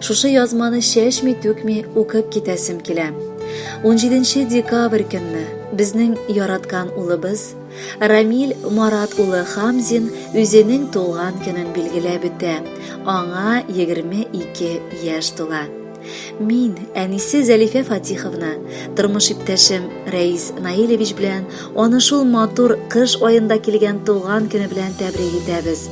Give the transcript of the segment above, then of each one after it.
Шушы язманы чәчми-түкми укып китәсем килә. 17 декабрь көнне безнең яраткан улыбыз Рамиль Марат улы Хамзин үзенең туган көнен билгеләп үтә. Аңа 22 яшь тула. Мин әнисе Зәлифә Фатиховна, тормыш иптәшем Рәис Наилевич белән аны шул матур кыш аенда килгән туган көне белән тәбрик итәбез.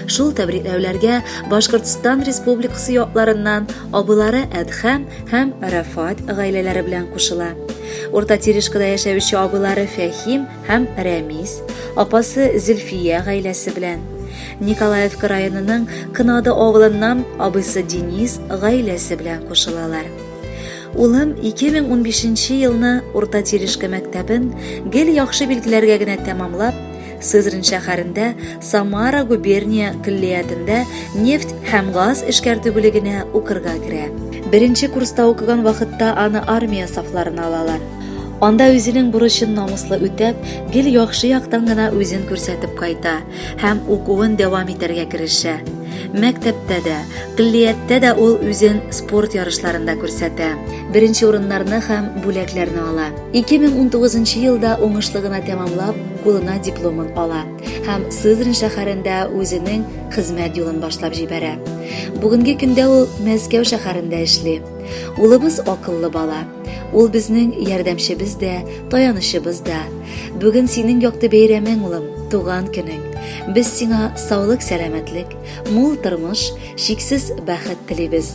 Шул тәбрикләүләргә Башкортстан Республикасы якларыннан абылары Әдхәм һәм Рафат гаиләләре белән кушыла. Урта Терешкада яшәүче абылары Фәхим һәм Рәмис, апасы Зөлфия гаиләсе белән. Николаевка районының Кынады авылыннан абысы Денис гаиләсе белән кушылалар. Улым 2015 елны Урта Терешка мәктәбен гел яхшы билгеләргә генә тәмамлап, Сызрань шәһәрендә Самара губерния көллиятендә нефть һәм газ эшкәртү бүлегенә укырга керә. Беренче курста укыган вакытта аны армия сафларына алалар. Анда үзенең бурычын намуслы үтәп, гел яхшы яктан гына үзен күрсәтеп кайта һәм укуын дәвам итәргә керешә. Мәктәптә дә, көллияттә дә ул үзен спорт ярышларында күрсәтә, беренче урыннарны һәм бүләкләрне ала. 2019 елда уңышлы гына тәмамлап, кулына дипломын ала һәм Сызрань шәһәрендә үзенең хезмәт юлын башлап җибәрә. Бүгенге көндә ул Мәскәү шәһәрендә эшли. Улыбыз акыллы бала. Ул безнең ярдәмчебез дә, таянычыбыз да. Бүген синең якты бәйрәмең, улым, туган көнең. Без сиңа саулык-сәламәтлек, мул тормыш, чиксез бәхет телибез.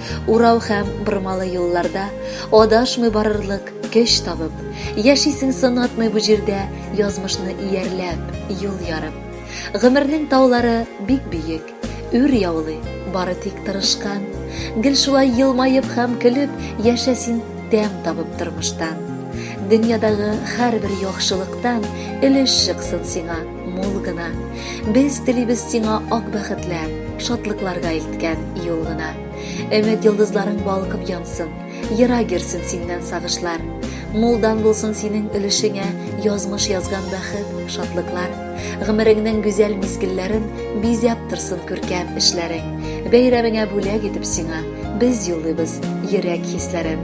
Урау һәм бормалы юлларда Адашмый барырлык көч табып, Яшисең сынатмый бу җирдә Язмышны иярләп, юл ярып. Гомернең таулары бик биек, Үр яулый, бары тик тырышкан. Гел шулай елмаеп һәм көлеп Яшә син тәм табып тормыштан. Дөньядагы һәрбер яхшылыктан Өлеш чыксын сиңа. мул гына. Без телибез сиңа ак бәхетләр, шатлыкларга илткән юл гына. Өмет йолдызларың балкып янсын, ерак йөрсен синнән сагышлар. Мулдан булсын синең өлешеңә язмыш язган бәхет, шатлыклар. Гомереңнең гүзәл мизгелләрен бизәп торсын күркәм эшләрең. Бәйрәмеңә бүләк итеп сиңа без юллыйбыз йөрәк хисләрен.